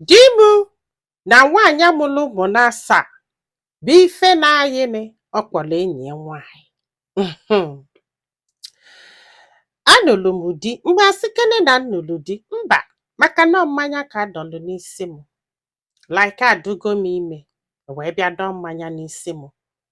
Di m na nwaanyị a mụrụ ụmụ n'asaa bụ ife na-ayịnị ọ kpọrọ enyi ya nwaanyị. Mhm. Anụrụ m di mgbe a sịkene na m nụrụ di mba maka na ọ mmanya ka a dọlụ n'isi m like adụgo m ime e wee bịa dọọ mmanya n'isi m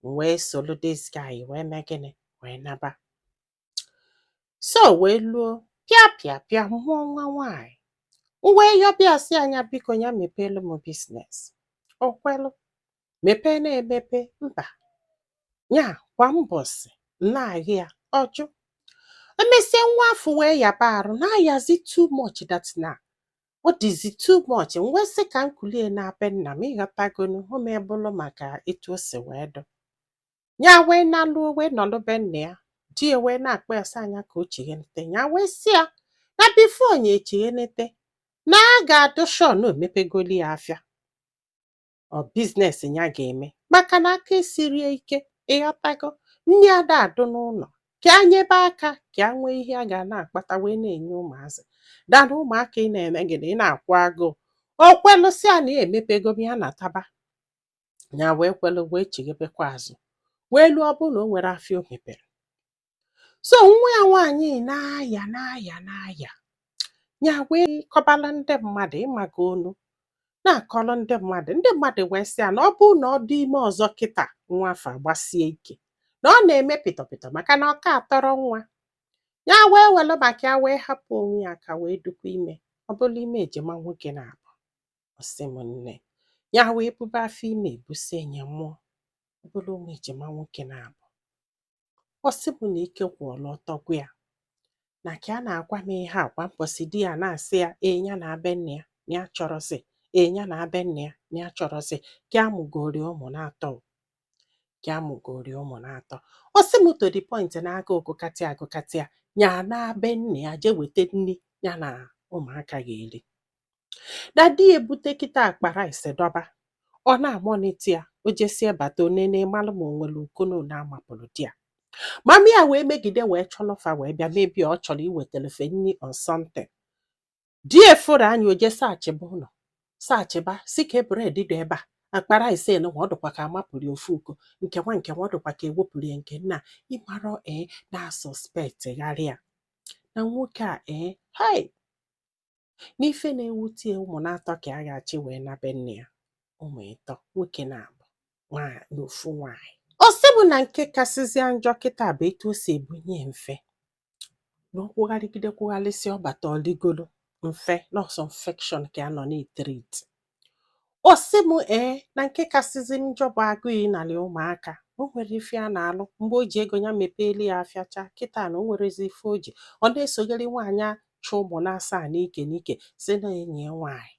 m wee soro this guy wee mee gịnị wee naba so wee luo pịa pịa pịa mụọ nwa nwaanyị m wee yọba ya sị a nya biko ya mepeelu m business o kwelụ mepee na-emepe mba ya kwa mbọsị na-ahị ya ọ jụ emesie nwa afụ wee yaba arụ na-ayazi too much that na ọ dịzi too much m wee sị ka m kulie naa be nna m ịghọtagonu o mee bụrụ maka etu o si wee dụ ya wee naluo wee nọlụ be nna ya di ya wee na-akpọ ya sị a nya ka o chighenete ya wee sị ya na before nya echighenete na a ga-adụ sure na o mepegoli ya afịa or business ya ga-eme maka na aka esirọ ya ike ịghọtago nri ada adụ n'ụlọ ka a nyebe aka ka a nwee ihe a ga na-akpata wee na-enye ụmụazị than ụmụaka ị na-eme gịnị ị na-akwụ agụụ o kwelụsịa na ya emepego m ya nataba ya wee kwelụ wee chighebekwa azụ wee luo ọ bụ na o nwerọ afịa o mepere so nwa ya nwaanyị na-aya na-aya na-aya ya wee kọbala ndị mmadụ ịmagonu na-akọrọ ndị mmadụ ndị mmadụ wee sị ya na ọ bụrụ na ọ dị ime ọzọ kịta nwa afụ agbasie ike na ọ na-eme pịtọpịtọ maka na ọ ka atọrọ nwa ya wee welu maka ya wee hapụ onwe ya aka wee dụkwa ime ọ bụrụ ime ejima nwoke n'abụ ọ sị m nne ya wee bube afọ ime ebusie nya mụọ ọ bụrụ ụmụ ejima nwoke n'abụ ọ sị m na ike kwụlụ ọtọ gwụ ya na ka a na-agwa m ihe a kwa mbọsị di ya na-asị ya nya naa be nne ya na ya achọrọzi nya naa be nne ya na ya achọrọzi ka a mụgori ụmụ n'atọ ka a mụgori ụmụ n'atọ ọ sị m to the point na agụụ gụkata gụkata ya ya naa be nne ya jee weta nri ya na ụmụaka ga-eri na di ya ebute kịta akpa rice dọba ọ na-amonitor ya o jesie bata o nene malụ ma o nwere uko one a mapụrụ di ya mami ya wee megide wee chọlọ fa wee bịa maybe ọ chọrọ iwetelu fa nri or something di ya fụrụ anya o je searchịba ụlọ searchịba sị ka bread dị ebe a akpa rice nwa ọ dụkwa ka a mapụrụ ya ofu uko nke nwa nke nwa ọ dụkwa ka e wepụrụ ya nke nna ịmarọ ee na-asuspect gharịa na nwoke a ee hai n'ife na-ewute ụmụ n'atọ ka a ga-achị wee na be nne ya ụmụ ịtọ nwoke n'abụa na ofu nwaanyị ọ sị bụ na nke kasịzịa njọ kịta bụ etu o si ebunye m ife na ọ kwụgharịgide kwụgharịsị ọ bata o ligolo m ife na ọ sọ infection ka a nọ na-etriti Ọ sị m ee na nke kasịzi njọ bụ agụụ ịnarị ụmụaka o nwere ife a na-alụ mgbe o ji ego ya mepeeli ya afịa chaa kịta na o nwerozi ife o ji ọ na-esogharị nwaanyị achụ ụmụ na-asaa n'ike n'ike sị na enyi ya nwaanyị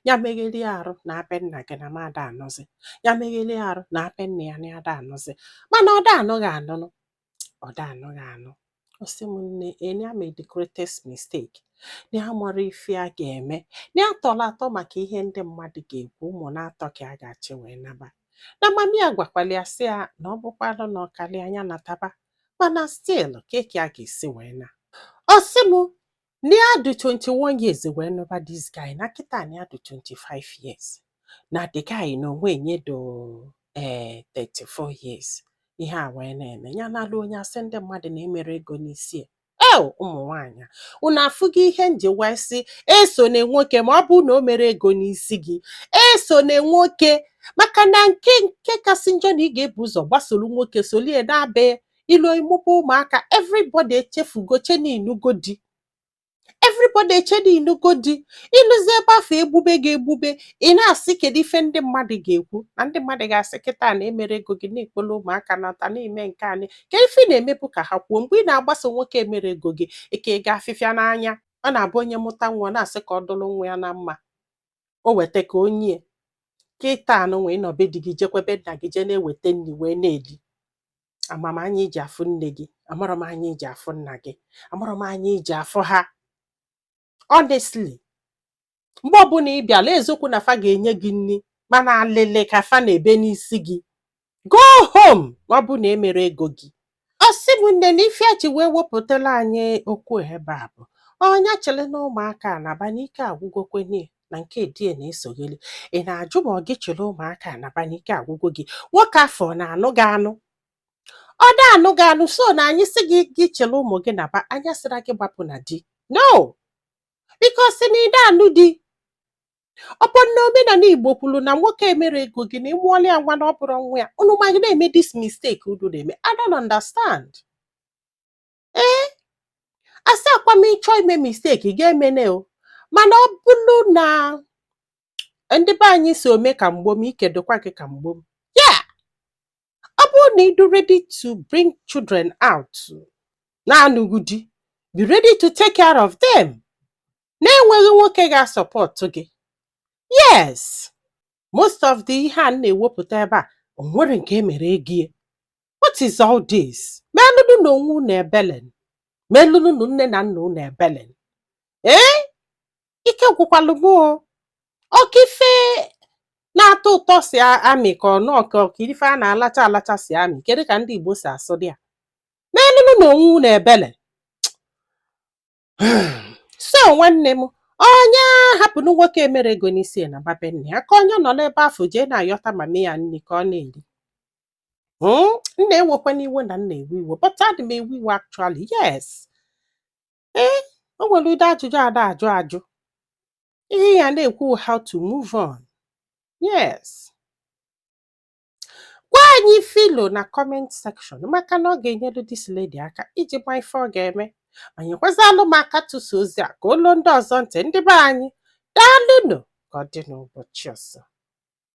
ya megheli arụ naa be nna gị na m ada anụzi ya megheli arụ naa be nna ya na ada anụzi mana ọ da anụ gị anụ nụ ọ da anụ gị anụ ọ sị m nne na ya made the greatest mistake na ya amarọ ife a ga-eme na ya tọrọ atọ maka ihe ndị mmadụ ga-ekwu ụmụ n'atọ ka a ga-achị wee naba na mami ya gwakwara ya sị ya na ọ bụkwalụ na ọ karịa nya nataba mana still kee ka ya ga-esi wee naa ọ sị m Na ya dụ 21 years wee nụba this guy na kịta na ya dụ 25 years na the guy na onwe nya dụ ee eh, 34 years ihe a wee na-eme ya na-alụ onye asị ndị mmadụ na emero ego n'isi ya o ụmụ nwaanyị unu afụgo ihe m ji wee sị esona nwoke ma ọ bụ na o mero ego n'isi gị esona nwoke maka na nke nke kasị njọ na ị ga-ebu ụzọ gbasoro nwoke solie naa be ya i luo ị mụba ụmụaka everybody echefugo chee na ị nụgo di everybody echee na ị nụgo di i luzie ebe afụ egbube gị egbube ị na-asị kedu ife ndị mmadụ ga-ekwu na ndị mmadụ ga-asị kịta na emero ego gị na ị kpọlọ ụmụaka nata na-eme nke anyị kedu ife ị na-emebu ka ha kwuo mgbe ị na-agbaso nwoke emero ego gị eke ga afịfịa n'anya ọ na-abụ onye mụta nwa ọ na-asị ka ọ dụrụ nwa ya na mma o weta ka o nye kịta nụnwa ị nọ be di gị jekwa be nna gị jee na-eweta nri wee na-eli ama m anya i ji afụ nne gị amarọ m anya i ji afụ nna gị amarọ m anya i ji afụ ha honestly mgbe ọbụla ị bịala eziokwu na fa ga-enye gị nri mana alịlị ka fa na-ebe n'isi gị go home ọ bụ na emero ego gị ọ sị m nne na ife ya ji wee wepụtara anyị okwu ebe a bụ ọ nya chịrịnụ ụmụaka a naba n'ike agwụgokwa nya na nke di ya na-esogheli ị na-ajụ ma ọ gị chịrị ụmụaka a naba n'ike agwụgo gị nwoke afụ ọ na-anụ gị anụ ọ da anụ gị anụ so na anyị sị gị gị chịrị ụmụ gị naba anyị asịrọ gị gbapụ na di no because na ị da anụ di ọ bụ na omenala igbo kwuru na nwoke emero ego gị na ị mụọla ya nwa na ọ bụrọ nwa ya unu ma gị na-eme this mistake unu na-eme i don't understand ee asịakwa m ị chọ ime mistake ị ga-emenụ o mana ọ bụrụ na ndị be anyị sị ome ka mgbom ike dụkwa gị ka mgbom yeah ọ bụrụ na ị dụ ready to bring children out na-anụghị di be ready to take care of them na-enweghị nwoke ga-asupport gị yes most of the ihe a na-ewepụta ebe a o nwere nke e mere ego ya what is all this melụnụ na onwe unu ebele melụnụ na nne na nna unu ebele ee ike gwụkwalụ m o ọ ka ife na-atọ ụtọ si a- amị ka ọ nọ ka ife a na-alacha alacha si amị kedu ka ndị Igbo si asụdị ya melụnụ na onwe unu ebele so nwanne m onye hapụ na nwoke mere ego n'isi naba be nne ya ka onye nọ n'ebe afụ jee na-ayọta mama ya nri ka ọ na-eri hmm? nna ewekwana iwe na m na-ewe iwe but adị m ewe iwe actually yes ee eh, o nwere ụdị ajụjụ a da-ajụ ajụ ihe ya na-ekwu how to move on yes gwa anyị ife i lo na comment section maka na ọ ga-enyere this lady aka iji ma ife ọ ga-eme ma nyekwazịalụ m aka tụsa ozi a ka o lu ndị ọzọ ntị ndị be anyị daalụnụ ka ọ dị n'ụbọchị ọzọ